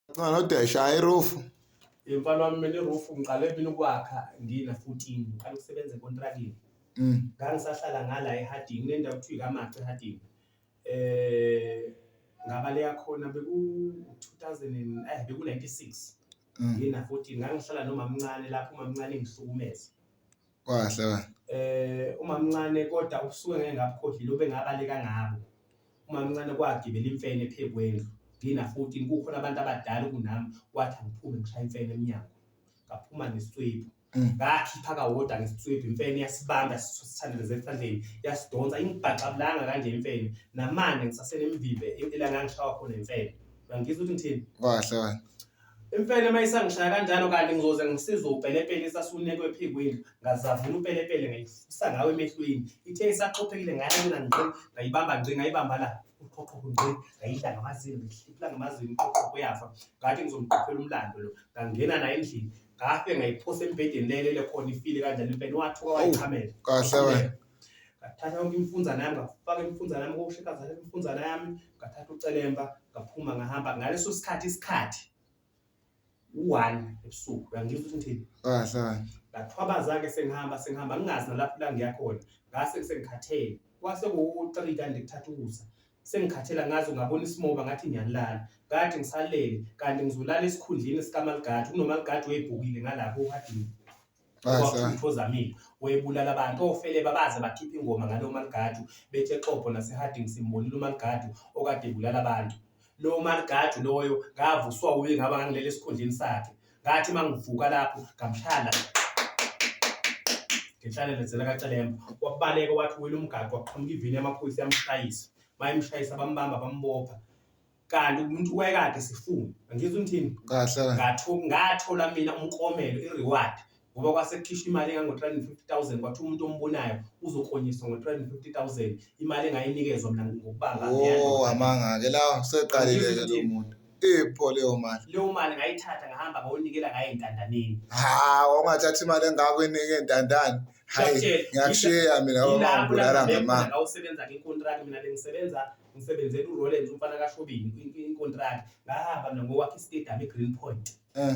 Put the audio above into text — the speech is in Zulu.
Ngicela nodesha hayi roof. Mfana wami mina iroof ngiqale mina ukwakha ngina 14 ngiqala ukusebenza ekontrakini Mm. ngangisahlala ngala eHarding kunendawo kuthiwa ikamaca eHarding eh ngabaleya khona beku 2000 eh beku 96 Mm. ngina 14 ngangihlala nomamncane lapho umamncane ngihlukumeza Kwahle ba. Eh umamncane kodwa ubusuke ngeke ngabukhohlile obengabaleka ngabo. Umamncane kwagibela imfene ephekwendlu. Ngina 14 kukhona abantu abadala kunami wathi angiphume ngishaya imfene emnyango. Ngaphuma nesitswebhu. Mm. Ngakhipha kawodwa ngesitswebhu imfene yasibamba sithandeleze esandleni yasidonsa ingibhaxabulanga kanje imfene namanje ngisasele emvimbe elanga ngishawa khona imfene. Uyangizwa ukuthi ngithini? Kwahle ba. Imfene uma isangishaya kanjalo kanti ngizoze ngisize upelepele isasunekwe ephikweni ngazavula upelepele ngayifusa ngawe emehlweni ithe isaxophekile ngayabona ngqi ngayibamba ngqi ngayibamba la uqhoqhoqho ngqi ngayidla ngamazini ngihliphula ngamazini uqhoqhoqho uyafa ngathi ngizomqophela umlando lo ngangena naye endlini ngafe ngayiphosa embhedeni lelele khona ifile kanjalo imfene wathuka wayichamela kahle wena ngathatha yonke imfunzana yami ngafaka imfunzana yami kokusho ikazathatha imfunzana yami ngathatha ucelemba ngaphuma ngahamba ngaleso sikhathi isikhathi u-one ebusuku uyangizwa ukuthi ngithini kahle ngathwabaza-ke sengihamba sengihamba ngingazi nalapho la ngiyakhona ngase sengikhathele kwase kuwu-three kanti kuthatha ukusa sengikhathela ngazi ungabona isimoba ngathi ngiyalala kade ngisalele kanti ngizolala esikhundleni sikamaligadi kunomaligadi weyibhukile ngalapho uhadini Ozamile webulala abantu ofele babaze bakhipha ingoma ngalo maligadu bethi exopo naseharding simbonile umaligadu okade ebulala abantu lo maligadu loyo ngavuswa uye ngaba ngangilele esikhundleni sakhe ngathi uma ngivuka lapho ngamshaya ngenhlane lenzela kacelemba wabaleka wathi wile umgaqo waqhamuka ivini yamaphoyisa yamshayisa bayemshayisa bambamba bambopha kanti umuntu wayekade sifuna angizwa ngithini kahle ngathola ngathola mina umkomelo ireward ngoba kwasekhishwa imali engango-350000 kwathiwa umuntu ombonayo uzoklonyiswa ngo-350000 imali engayinikezwa mina ngokubanga oh amanga-ke la seqalile-ke lo muntu ipho leyo mali leyo mali ngayithatha ngahamba ngayonikela ngayo ey'ntandaneni ha ongathatha imali engako enike ey'ntandane hayi ngiyakushiya mina babangibulala ngamanga ngawusebenza-ke ikontraki mina bengisebenza ngisebenzela uRollins umfana kaShobeni inkontraki ngahamba mina ngokwakhe istadium eGreen Point eh